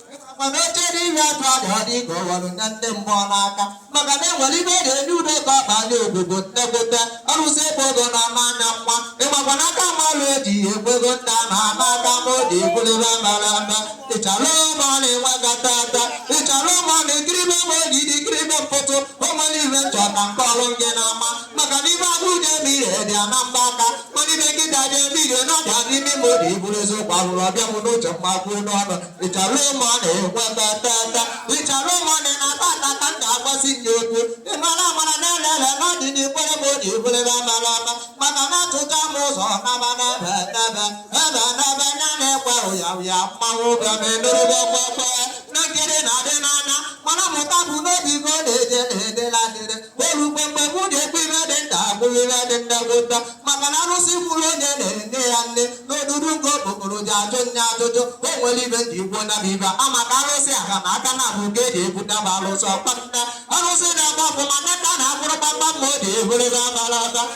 Ọkpọmechere iri atụ adị ọ dị ka ọ ghọrọ nye ndị mmụọ n'aka maka na enwere ife e ga-enye udo ka ọ baa n'obodo nnegote arụsị ebe ogo na ama anya nwa ịgbakwa n'aka ma ọrụ eji ekwego nna na ama aka ma o ji ekwurịba bara aba ịchara ụmụ ọ na-enwe gata ata ịchara ụmụ ọ na-ekiribe ụmụ oji dị ikiribe mkpọtụ ụmụ niile chọta nke ọrụ gị n'ama maka na ife agụ ji eme ire dị ya na mbọ aka ma ife nkịta ji eme ire n'ọfịa n'imi ime obi iburu eziokwu ahụrụ ọ bịa m n'uche m ekwuo n'ọnụ ịchara ụmụ ọ na-ekwe tata ịchara ụmụ ọ na-ata ata ka m ga-agbasi nye okwu ịmara amara na-elele n'ọdịnikwere m obi ibulebe amara ama mana na-atụta m ụzọ naba naba naba ebe naba nya na-ekwe ụya ụya mmanwụ bịa ma emerụba kwekwe na nkiri na-adị n'anya mana mụta bụ n'obi go na-eje na-edela dịrị olu mgbe mgbe mụ na-ekwu ife dị nta abụrụ ife dị ndagwota maka na arụsị mụrụ onye na-enye ya nni n'odudu nke okokporo ji ajụ nne ajụjụ o nwere ife ndị igbo na ibe a maka arụsị aka na aka na abụ nke eji ebute bụ arụsị ọkpata arụsị na-agba ọfụma nne nna na-akwụrụ kpamkpam ma o ji ehurebe abalata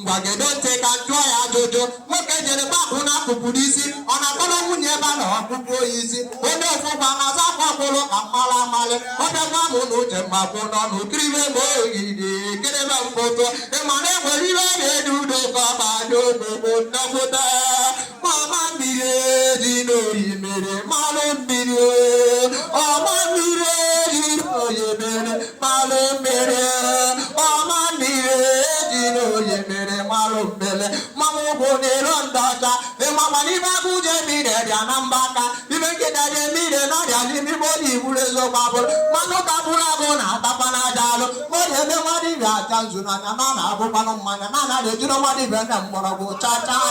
ngwa gedo ntị ka m jụọ ya ajụjụ nwoke jere gbapụ n'akụkụ n'isi ọ na-akọrọ nwunye ebe a na ọkpụkpụ oyi isi onye ofụkwa na-aza akwa kwụrụ ka mmalụ amalị ọ bịakwa m n'uche m ekwuo n'ọnụ kiribe m ogidi kiribe mkpọtụ ịma na enwere ihe ọ na-edu udo ka ọ banye ogbogbo nnekwụta mama mmiri dị n'oyi mere mmanụ mmiri ọma mmiri dị n'oyi mere mmanụ mmiri ọma mmiri dị n'oyi mere mmanụ mmiri mmanụ ụkwụ na-ero ndị ọcha ị mara na ife agụ ji eme ire dị ya na mbọ aka ife nkịta ji eme ire n'ọfịa n'imi igbo na igburu eziokwu abụrụ mmanụ kapụrụ abụ na atakwa na aja alụ mmadụ ebe mmadụ ibe acha nzu n'anya na na-abụkwanụ mmanya na anaghị ejiri mmadụ ibe na mgbọrọgwụ chaa chaa